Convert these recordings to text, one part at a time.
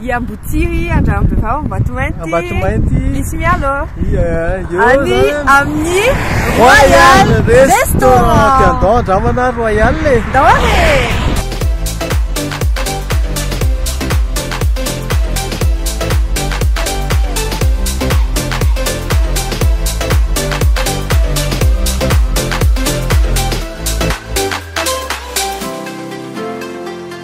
I Ambotsiry, Andranorirao, Ambatomainty, Ambatomainty, Misy Mialo, any amin'ny Royal Restaurant. Andao andramana Royal e! Andao ary!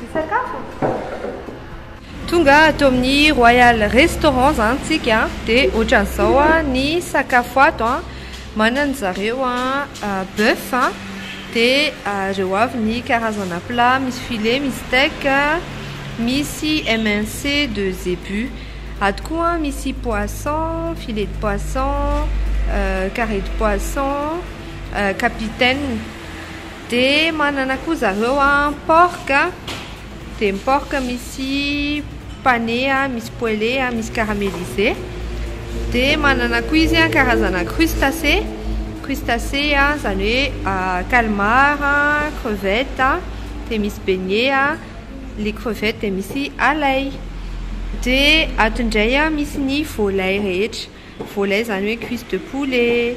Hisakafo ny mpisorona. Tonga ato amin'ny Royal Restaurant izany tsika dia ohatran'izao ny sakafo ato an, manana zareo boeuf dia ireo avy ny karazana plat misy filet, misy steak, misy MNC de zebu, ato koa misy poisson, filet de poisson, carré de poisson, capitaine, Dia manana koa zareo porc, dia ny porc misy pané, misy poêlé, misy caramélisé. Dia manana koa izy karazana crustacé, crustacé izany hoe calmar, crevette, dia misy beignet, ilay crevette dia misy ailay. Dia ato indray misy ny volailay rehetra. Volaille zany hoe cuisse de poulet,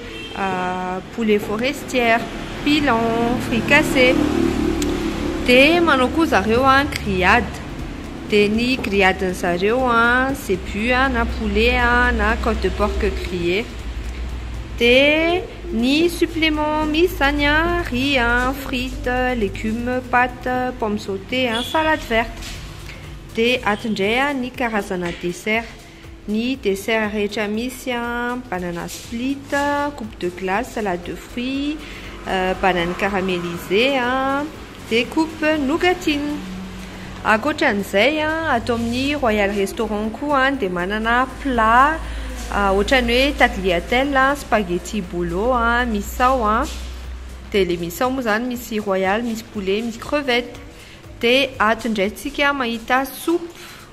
poulet forestière, pilon, fricassé. Dia manao koa zareo grillade. Dia ny grillade ny zareo zebu na poulet na cote de porc grillé. Dia ny supplément misy zany riz, frites, légumes, pâtes, pomme sautée, salade verte. Dia ato indray ny karazana dessert. Ny dessert rehetra misy an, banana split, coupe de glace, salade de fruits, banane caramélisée an, dia coupe nougatine. Ankoatra an'izay an, ato amin'ny Royal Restaurant koa dia manana plat ohatran'ny hoe tagliatelle, spaghetti bolo, misao an, dia ilay misao moa izany misy royal, misy poulet, misy crevette. Dia ato indray tsika mahita soupe.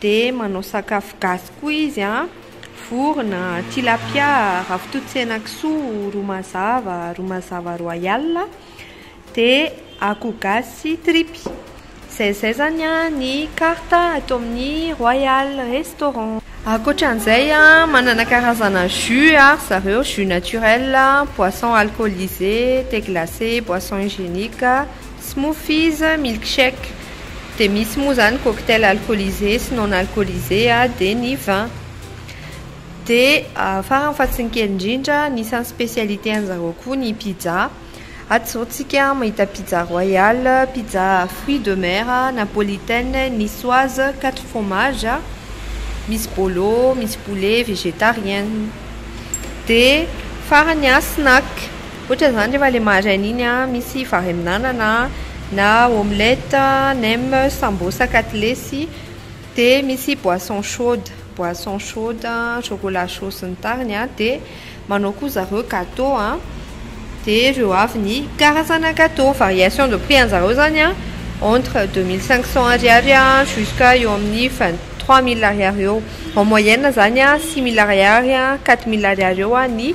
Dia manao sakafo gasy koa izy a, vorona, tilapia, ravitoto sy henakisoa, ro mazava, ro mazava royal, dia akoho gasy sy tripy. Izay izay izany ny carte ato amin'ny Royal Restaurant. Ankoatran'izay a, manana karazana jus a ry zareo, jus naturel, boisson alcoolisé, thé glacé, boisson hygiénique. Smoothies, milkshake, dia misy moa izany cocktail alcoolisé sy non alcoolisé dia ny vin. Dia farany fa tsy ny kely indrindra, anisan'ny spécialité an'i zareo koa ny pizza. Ato izao tsika mahita pizza royal, pizza fruits de mer, napolitaine, niçoise, quatre fromages, misy bolo, misy poulet, végétarienne. Dia farany snack. Ohatra zany rehefa le maraina iny a, misy vary amin'anana a, na omelette, nem, sambosa, katilesy, de misy boisson chaude, boisson chaude, chocolat chaud sy ny tariny a, de manao koa zareo gateau a, de reo avy ny karazana gateau, variation de prix anjareo zany a entre deux mille cinq cents ariary a jusqu'à eo amin'ny vingt trois mille ariary eo, en moyenne zany a six mille ariary a quatre mille ariary eo ny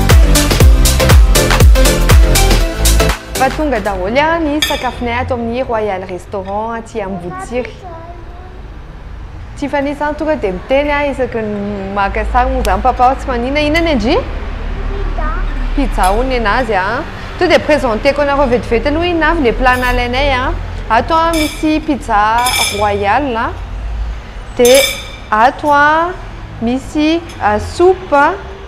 Fa tonga daholo ary ny sakafonay ato amin'ny Royal Restaurant aty Amboditsiry. Tiffany zany tonga dia miteny aho isaky ny maka sary moa zany papa aho tsy manina. Inona ny an-dry? Pizza. Pizza hono ny anazy a. Tonga dia présenteko anareo vetivety aloha inona avy ilay plat nalainay a. Ato a misy pizza royal a, dia ato a misy soupe.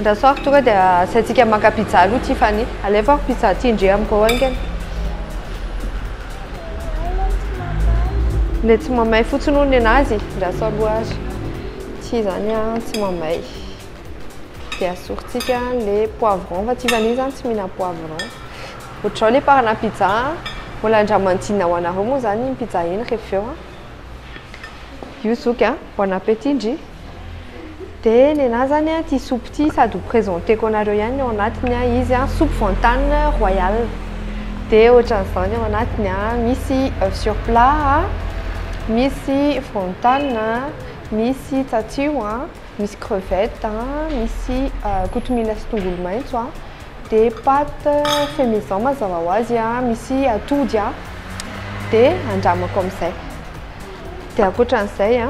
Ndra sao tonga dia asiantsika maka pizza aloha Tiffany. Alefako pizza ty ndry amiko haingana. Ilay tsy mamay fotsiny hono nenazy ndra sao aloha ary ity zany a tsy mamay. Dia asorintsika le poivron fa Tiffany zany tsy mihina poivron. Ohatr'izao le parana pizza a. Mbola ndra manodinina ho anareo moa zany iny pizza iny rehefa avy eo a. Io zoky a. Bon appétit ndry. Dia nenah zany an ity soupe ity sady ho presenteko anareo ihany ny ao anatiny an, izy an soupe vantany royal, dia ohatran'izao ny ao anatiny an, misy oeuf sur plat an, misy vantany an, misy tsatio an, misy crevette an, misy kotomila sy tongolo maitso an, dia pâte fait maison mazava ho azy an, misy atody an, dia andramako amin'izay. Dia ankoatran'izay a,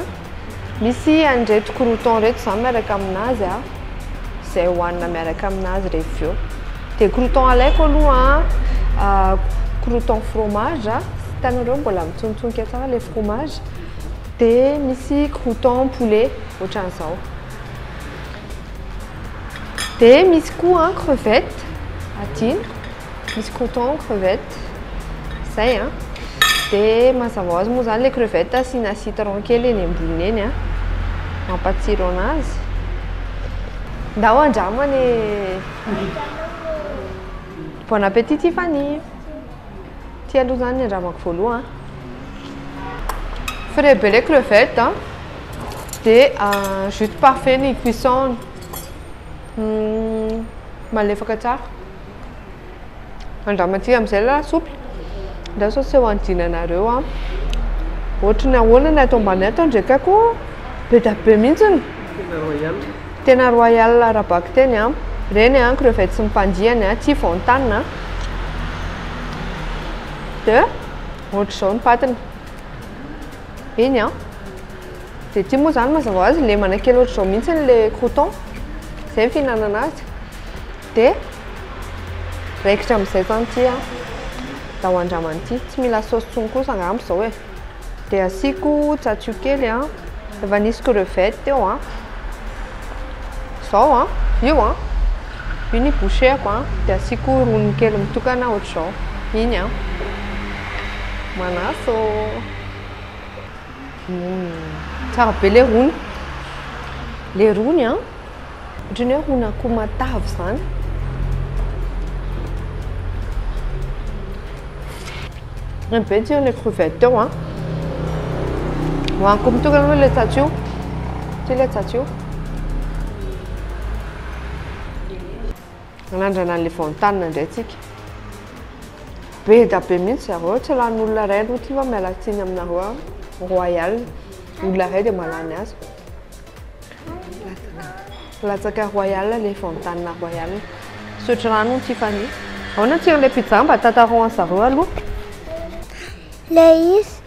misy an'ireto croutons ireto izany miaraka aminazy a, izay hohanina miaraka aminazy rehefa avy eo. Dia croutons alaiko aloha a, croutons fromage a, hitanareo mbola mitsonotsonika tsara ilay fromage. Dia misy croutons poulet ohatran'izao. Dia misy koa crevettes, adino. misy croûtons aux crevettes zay a dia mazava ho azy moa zany le crevette asiana citron kely eny amboniny eny a mampatsiro anazy ndao andramana e bon appétit Tiffany ty aloha zany andramako voaloha frais be le crevette a dia ah, juste parfait ny cuisson hmm, malefaka tsara Andramantsika amin'izay lasopy. Ndao sao tsy ho anjinanareo an. Ohatry ny ahoana ny ato ambany ato ndray ka koa be da be mihitsy ny. Tena royal. Tena royal ara-bakiteny an. Reny an, crevettes ny mpandiany an, tsy fontan an. De, ohatr'izao ny patiny. Iny an. Dia ity moa izany mazava ho azy lemana kely ohatr'izao mihitsy ilay croûton. Izay ny fihinanana azy. Dia raikitra amin'izay izany ity an, atao andramana ity. Tsy mila saosy intsony kosa angamba izao e. Dia asiako cacio kely an, efa nisy crevette teo an. Izao an, io an, io ny boucheko an, dia asiako roniny kely mitokana ohatr'izao, iny an. Manaso. Tsara be le rony. Le rony an, ohatran'ny hoe rony akoho matavy izany. Ny be tsiro le crevette teo an. Hoaniko mitokana aloha le tsatsio. Ty le tsatsio. Nanandrana an'ilay voantanina indray tsika. Be da be mihitsy zareo, tsy lany olona iray aloha ty va miala tsiny aminareo an, royal, olona iray dia malany azy. Latsaka royal ilay voantanina royal. Sotro rano ny Tiffany. Ahoana tsiron'ilay pizza mba tantarao an'i zareo aloha. Ilay izy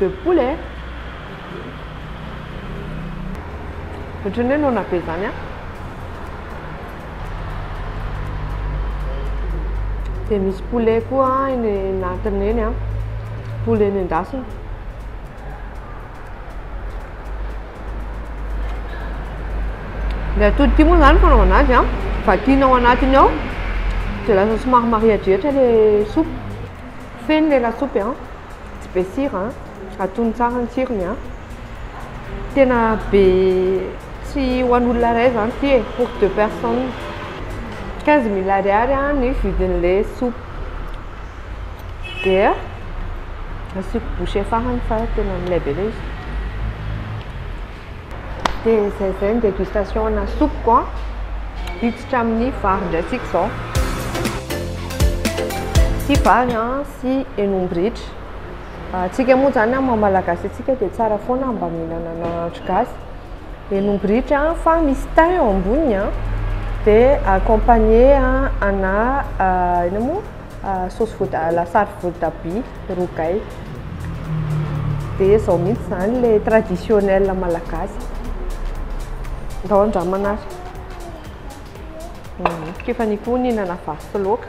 de poule eh! Ohatran'ny hoe noana be zany an! Dia misy poulet koa eny anatiny eny an, poulet nendasina. Ny atody ity moa zany fanaovana azy an, vakiana ao anatiny ao, dia lasa somary marihadrihatra ilay soupe, feno ilay lasopy an. Tsy be sira an! Atono tsara ny tsirony an! Tena be tsy ho an'olona iray izany ity e! Pour deux personnes. Quinze mille ariary ny vidin'ilay soupe. Dia asiako bouche farany fa tena milay be ilay izy. Dia izay izay ny dégustation ana soupe ko an! Hiditra amin'ny vary indray tsika izao. Ity vary an! sy henombritra. Antsika moa izany amin'ny maha-malagasy antsika dia tsara foana mba mihinana nahandro gasy. Henombritra fa misy thym eo amboniny an, dia accompagné ana inona moa saosy voatabia, lasary voatabia, rogay. Dia izao mihitsy izany ilay traditionnel malagasy. Ndao handramana ary. Kefany koa ny hihinana vary sy laoka.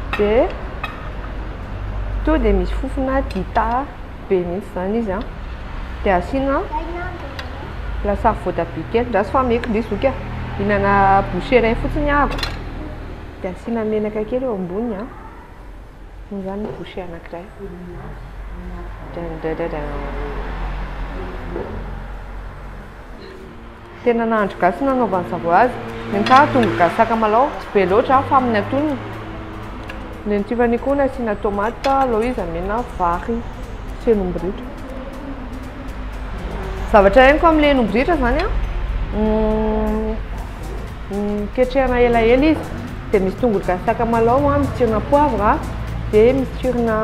dia tonga dia misy fofona dita be mihitsy izany izy an dia asiana lasary voatabia kely ndraso fa meko indray zoky a hihinana bouchée iray fotsiny aho dia asiana menaka kely eo ambony an dia izany ny bouchée anankiray drandradradrana Tena nahandro gasy no nanaovany zareo azy. Ny ahy tongolo gasy sakamalaho, tsy be loatra aho fa amin'ny atonony. Ny an'i Tiffany koa nasiana tomate, alao izy amena vary sy henom-biritra. Zavatra henoko amin'ilay henom-biritra zany an, ketrehana elaela izy, dia misy tongolo gasy sakamalaho, misy tsirona poivre, dia misy tsirona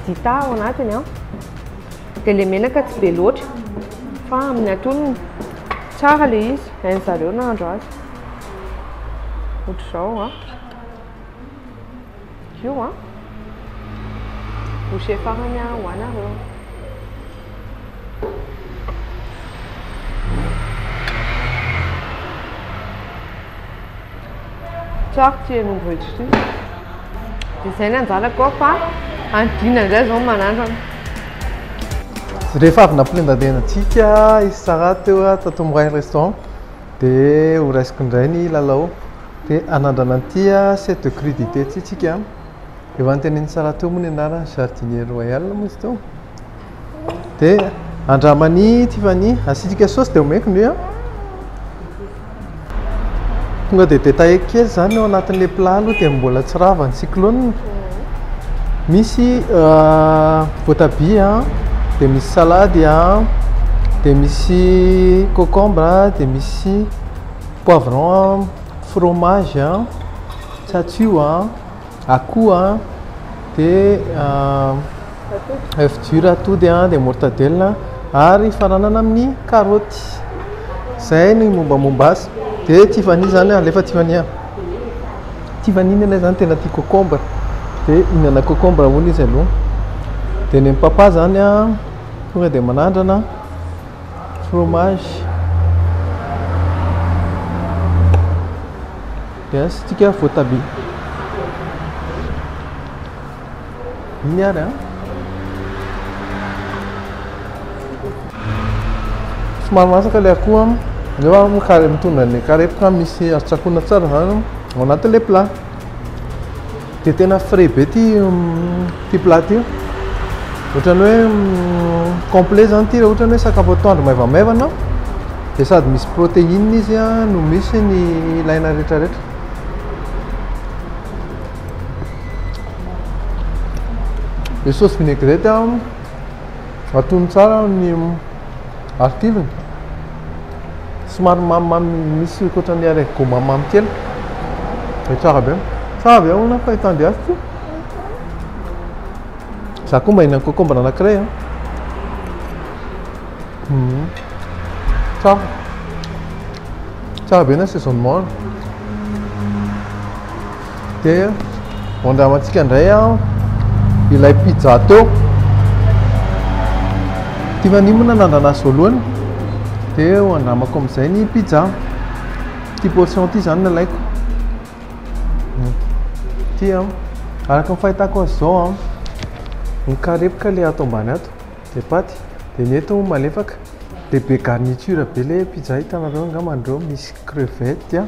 dita ao anatiny an. Dia ilay menaka tsy be loatra fa amin'ny antonony tsara ilay izy, hain'ny zareo nahandro azy. Ohatr'izao a. Io a. Bouchée farany a, ho anareo. Tsara ity henomboretra ity. Dia izay ny anjarako ao fa any dina indray izao ny manandrana. Rehefa avy nampilendalenda antsika i Sarah teo tato amin'ny Royal Restaurant dia ho raisiko indray ny lalao. Dia hanandrana an'ity set de crudité ity isika. Efa notenenin'i Sarah teo moa ny anarany, jardinier royal moa izy teo. dia andramani tiffany asitrika sosy dia omeko ndry a tonga dia detailleko kely izany eo anatin'le plat aloha dia mbola tsy rava ny cyclone misy euh, voatabia dia misy salady a dia misy cocombre dia misy poivron fromage a tsatsio a Akoho a, dia oeuf dur atody a, dia mortadelle a, ary hifaranana amin'ny karaoty. Izay ny mombamomba azy. Dia Tiffany izany, alefa Tiffany a. Tiffany ny anay izany tena tia cocombre, dia hihinana cocombre hono izy aloha. Dia ny an'i Papa izany a, tonga dia manandrana fromage. Yes tsika voatabia. Iny ary an. Somary masaka le akoho an. Eo an kare mitondra ny karepoka misy atsakona tsara zany ao anatin'ilay plat. Dia tena frais be ity ity plat ity. Ohatran'ny hoe complet zany ity raha ohatran'ny hoe sakafo atoandro maivamaivana dia sady misy protéine izy no misy ny ilaina rehetra rehetra. Ilay sauce vinaigrette atono tsara ny artiviny. somary mamimamy misy ohatran'ny arret gout mamimamy kely dia tsara be tsara ve hono fa hitandry azy ity za koa mba hihinana concombre anankiray a hmm. tsara tsara be ny assaisonnement Dia andramantsika indray ilay pizza teo. Tiffany moa nanandrana azy voalohany. Dia ho andramako amin'izay ny pizza. Ity portion ity izany no alaiko. Ity an, araka ny fahitako azy izao an, ny karepoka ilay ato ambany ato, dia paty, dia ny eto malefaka, dia be garniture be ilay pizza hitanareo angamba anareo, misy crevette an.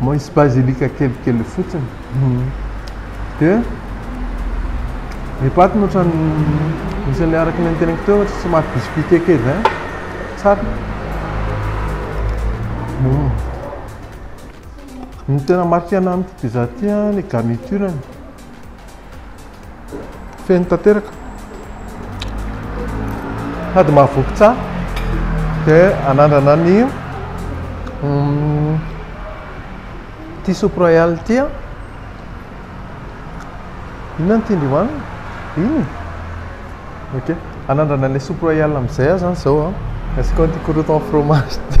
Misy bazilika kelikely fotsiny dia ny paty no ohatran'ny misy an'ilay araka ny teneniko teo ohatry somary biscuité kely izay tsara hmm. ny tena marque ananiko dia za tia ny garniture-ny Feno tanteraka. Sady mahavoky tsara. Dia anandrana ny ity soupe royale ity an. Inona ny tian'dry hohanina? Iny? Ok. Anandrana ilay soupe royale amin'izay aza izao an. Asiako an'ity croûton fromage ity.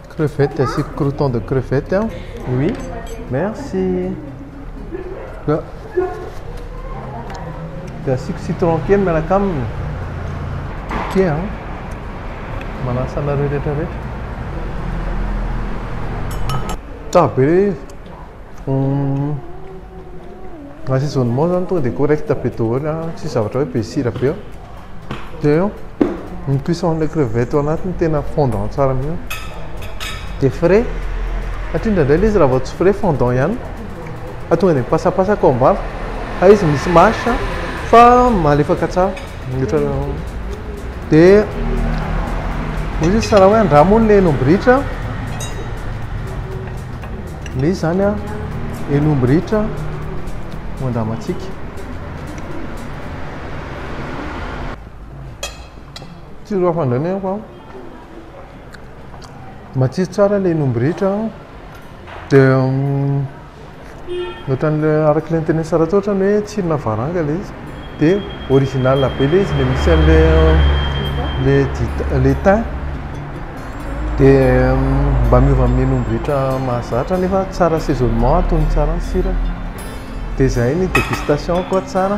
Crevette asiako croutons de crevette aho. Oui. Merci. Dia dia asiako citron kely miaraka aminy. Ok a. Ah. Manasa anareo rehetra rehetra. Tsara be le um, assaisonnement zany tonga dia correct be daholo a. Ah. Tsy zavatra hoe be sira be. dia ny cuisson le crevette ao anaty ny tena fondant tsara mihitsy dia frais satria indraindray ilay izy raha vao tsy frais fondant ihany fa tonga dia mipasapasaka ao ambava fa izy misy mâche fa malefaka tsara mihoatra dia misy izy sara hoe andramo ny enombritra misy izany a enombritra no andramantsika Tsiro hafa indray ny aiko. Matsiro tsara ilay ny omby rehetra. Dia mm, ohatran'ilay araka ilay noteny Saratoa ohatran'ny hoe tsirona varanga ilay izy. Dia original be ilay izy, ilay misy an'ilay ilay dita, ilay thym. Dia mm, mba miova amin'iny omby rehetra mahazatra nefa tsara assaisonnement, atony tsara ny sira. Dia izay ny dégustation koa tsara.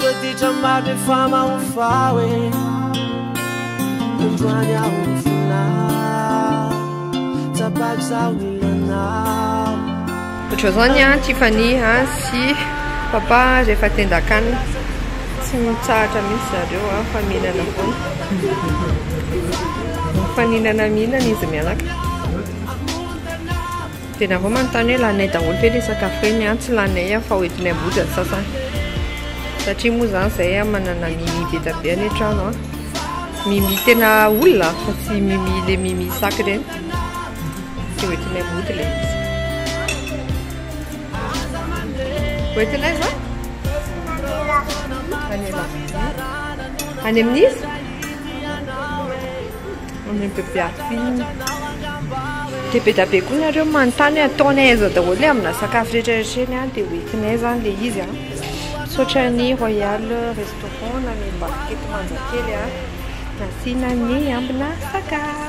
Toditra maro efa mahofa hoe Androany aho ny fona Tsapako zaho ny lanao Ohatran'izao zany an, Tiffany an sy papa rehefa tendan-kanina, tsy mitsahatra mihitsy zareo an fa mihinana foana. Mifaninana mihinana izy mianaka. Dia nareo manontany hoe laninay daholo ve ilay sakafo ireny an? Tsy laninay an fa hoentinay am-bohitra ny sasany. Satria moa izany izahay an manana mimi be dia be any an-trano an. Mimi tena olona fa tsy mimi ilay mimi sac ireny. Dia hoentinay am-bohitra ilay izy. Hoentinay va? Any amin'iza? Any amin'iza? On est bebe apine. Dia be dia be koa nareo manontany hoe ataony aiza daholo le amina sakafo rehetra rehetra eny an, dia ho entinay zany le izy an. Misaotra ny Royal Restaurant nanome barquette manjakely an, nasiana ny ambina sakafo.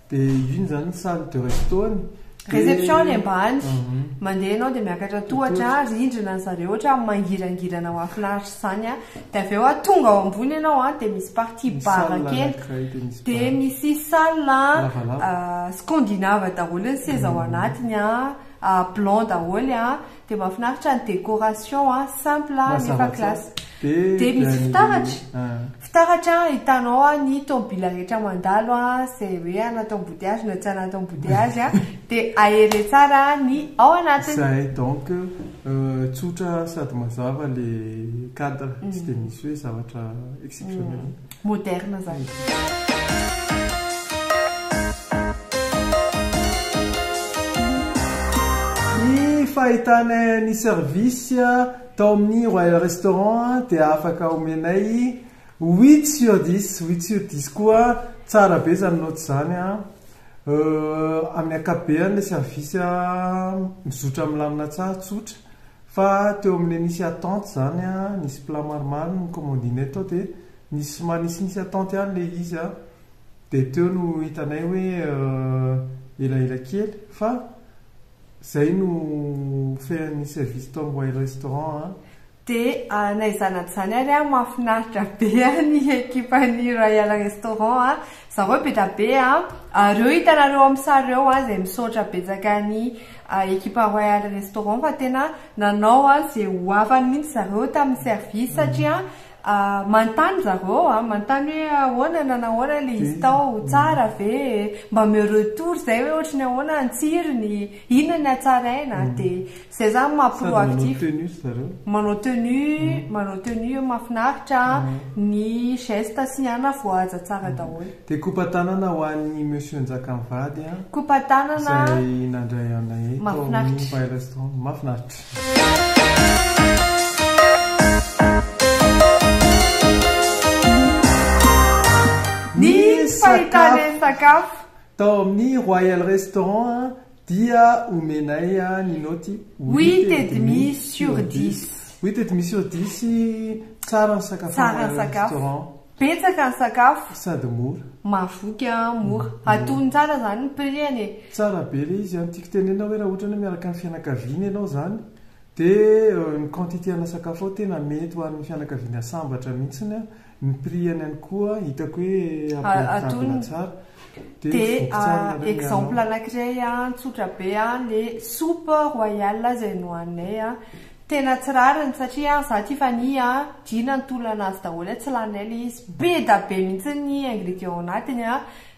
Dia iny izany salle de resto-ny. Réception-ny ambany. Mandeha ianao dia miakatra tohatra ary rindrina ry zareo ohatra hoe mangirangirana mahafinaritra izany an. Dia avy eo an, tonga ao ambony ianao an, dia misy partie bar kely. Dia misy salle scandinave daholo ny seza ao anatiny an, blanc daholo an. Dia mahafinaritra ny décoration a, simple a, nefa classe. Dia misy fitaratra, fitaratra ahitanao ny tomobila rehetra mandalo a, izay hoe anaty embouteillage na tsy anaty embouteillage a, dia ahere tsara ny ao anatiny. Izay, donc tsotra sady mazava ilay cadre, tsy dia misy hoe zavatra exceptionnel. Moderne zany. fahitanay ny service tao amin'ny royal restaurant dia afaka omenay huit sur dix huit sur dix koa tsara be zany note zany a euh, amin'ny akabeany le service mizotra milamina tsara tsotra Fa teo amle nisy attente zany a, nisy plat maromaro no commandinay tao de nisy somary nisinisy attente ihany le izy a, de teo no hitanay hoe elaela kely fa zay no fean'ny service tao amboay restaurant a. De naizanadizany ary a, mahafinaritra be a ny ekipan'ny Royal Restaurant a, Zareo be da be a! Reo hitanareo am sary reo a zay misaotra betsaka an'i ekipa Royal Restaurant fa tena nanao a ze ho afany mintsy zareo tamin'ny service satria manontany zareo a, manontany hoe ahoana na nahoana le izy tao, tsara ve e? Mba ameo retour zay hoe ohatry ny ahoana ny tsirony, inona ny hatsaraina? de Zay zany maha proactif. Sady manao tenue ry zareo. Manao tenue, manao tenue eo mahafinaritra, ny geste sy ny anona voahaja tsara daholo. Dia kopa-tanana ho an'i Monsieur Njakamivady an. Kopa-tanana. Izay nandray anay eto. Mahafinaritra. Ao Empire Restaurant. Mahafinaritra. Ny fahitana ny sakafo. Tao amin'ny Royal Restaurant dia omenay ny naoty huit et demi sur dix. Huit et demi sur dix, tsara ny sakafo ao amin'ny Royal Restaurant. Betsaka ny sakafo. Sady mora. Mahavoky an, mora. Atony tsara izany ny prix-ny e. Tsara be ilay izy an. Tiako tenenina hoe raha ohatra ianao miaraka amin'ny fianakaviana ianao izany dia ny quantité-na sakafo ao tena mety ho an'ny fianakaviana sambatra mihitsy an. Ny prix any any koa hitako hoe abordable tsara. Dia exemple anakiray tsotra be le soupe royale izay nohaninay tena tsy rariny satria za tia vanille dina ny tolona azy daholo tsy laninay le izy be da be mintsy ny ingredient anatiny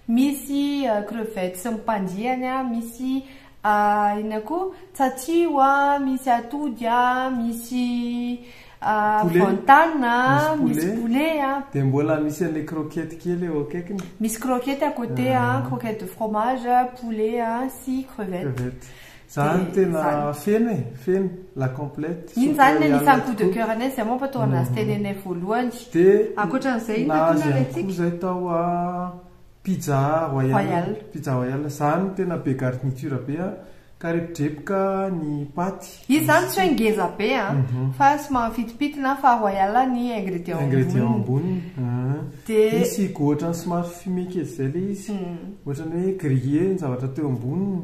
misy crevettes sy ny mpandiany misy Ah inona koa? Tsatsiho a, misy atody a, misy ah, Poulet. vantana a, Misy poulet. misy poulet a, Dia mbola misy an'ilay croquette kely eo akaikiny. misy croquette à côté a, Ah. croquette de fromage a, poulet a, sy crevette. Crevette. Zany Dia tena zany. feno e, feno, la complète. Iny Soupe zany ny royale anisan'ny coup de tokoa. cœur anay, izay moa mba tao anazy Mhm. tenenay voalohany. Dia Ankoatran'izay, inona koa nahazo ihany koa nalentsika? izay tao a Pizza royale, pizza royale, zany tena be garniture be an, karepodrepoka ny paty. Izy zany tsy hoe ngeza be an, fa somary mifitipitna fa royale ny ingrédients amboniny. Ingrédients amboniny an, dia misy goût ohatran'ny somary fumé kely izay ilay izy, ohatran'ny hoe grillé ny zavatra teo amboniny.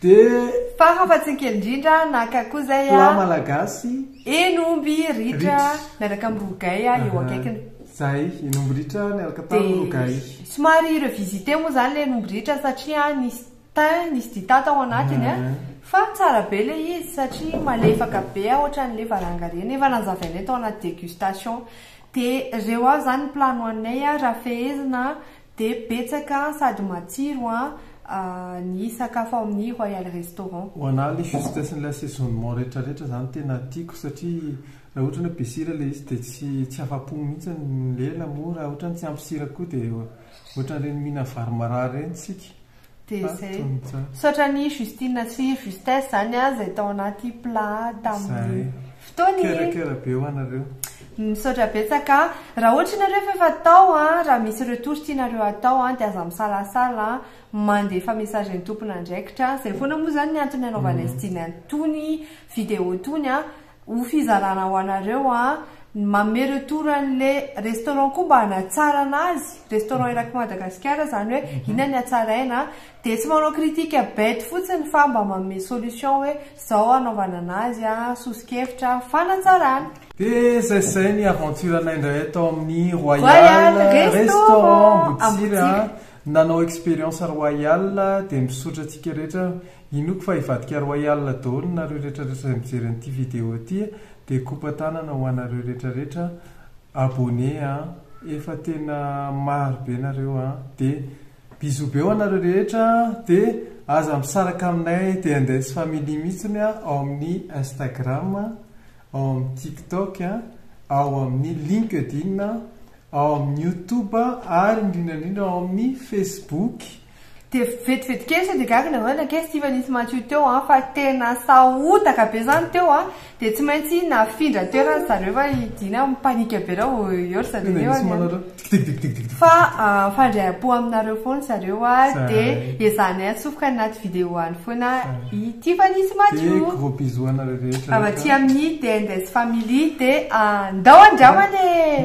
Dia. Fara fa tsy ny kely indrindra naka koa izay a. Plat malagasy. Eny omby ritra miaraka amin'ny rogay a eo akaikiny. Zay, eny omby ritra miaraka tamin'ny rogay. Dia somary revisiter moa izany ilay eny omby ritra satria nisy thym, nisy dita tao anatiny a. Fa tsara be ilay izy satria malefaka be a ohatran'ilay varanga ireny. Efa nazavainay tao anaty dégustation. Dia ireo avy izany ny plat nohaninay a, raha fehezina Dia betsaka sady matsiro an ny sakafo ao amin'ny Royal Restaurant. Ho anah le justecen'ilay assaisonnement retraretra zany tena tiako satria raha ohatra ny hoe be sira ilay izy dia tsy tsy afa-po mihitsy ny lela moa raha ohatra ny tsy ampy sira koa dia ohatran'ireny mihinana vary marary ireny tsika Dia zay. Misaotra an'i Justine sy Justesse zany an zay tao anaty plat tamin'ny fotoany. Mikarakara be ho anareo. Misaotra betsaka. Raha ohatra ianareo efa efa tao an, raha misy retour tianareo hatao an dia aza misalasala an, mandefa message an'ny tompon'andraikitra. Zay foana moa zany ny antony nanaovana iztony an tony video tony an. Ho fizarana ho anareo an. Manome retour anle restaurant koa mba hanatsarana azy, restaurant erak'i Madagasikara zany hoe inona ny hatsaraina dia tsy manao critique bête fotsiny fa mba manome solution hoe zao hanaovana anazy an, soso-kevitra fanatsarana. Dia zay zay ny aventure anay indray tao amin'ny Royal restaurant Ambotsiry an, nanao experience Royal dia misaotra antsika rehetra Inoako fa hivadika roay alina daholo nareo retraretra zay mijery an'ity vidéo ty e de kopa tanana ho anareo retraretra abonné a efa tena maro be nareo a de bisous be ho anareo rehetra de aza misaraka aminay de index family mitsiny a ao amin'ny instagram a ao amin'ny tiktok a ao amin'ny linkedin a ao amin'ny youtube a ary indrindra indrindra ao amin'ny facebook Dia vetivety kely sao dia gaga nareo na kely siva nisy madio teo an, fa tena sahotaka be zany teo an, dia tsy maintsy nafindra toerana ry zareo fa i Dina mi-panique be raha vao eo ry zareo eo an, fa mifandray-am-po aminareo foana ry zareo an, dia ezahanay atsofoka any anaty video any foana i tiva nisy madio, avy aty amin'ny DNDS family dia ndao andramana e!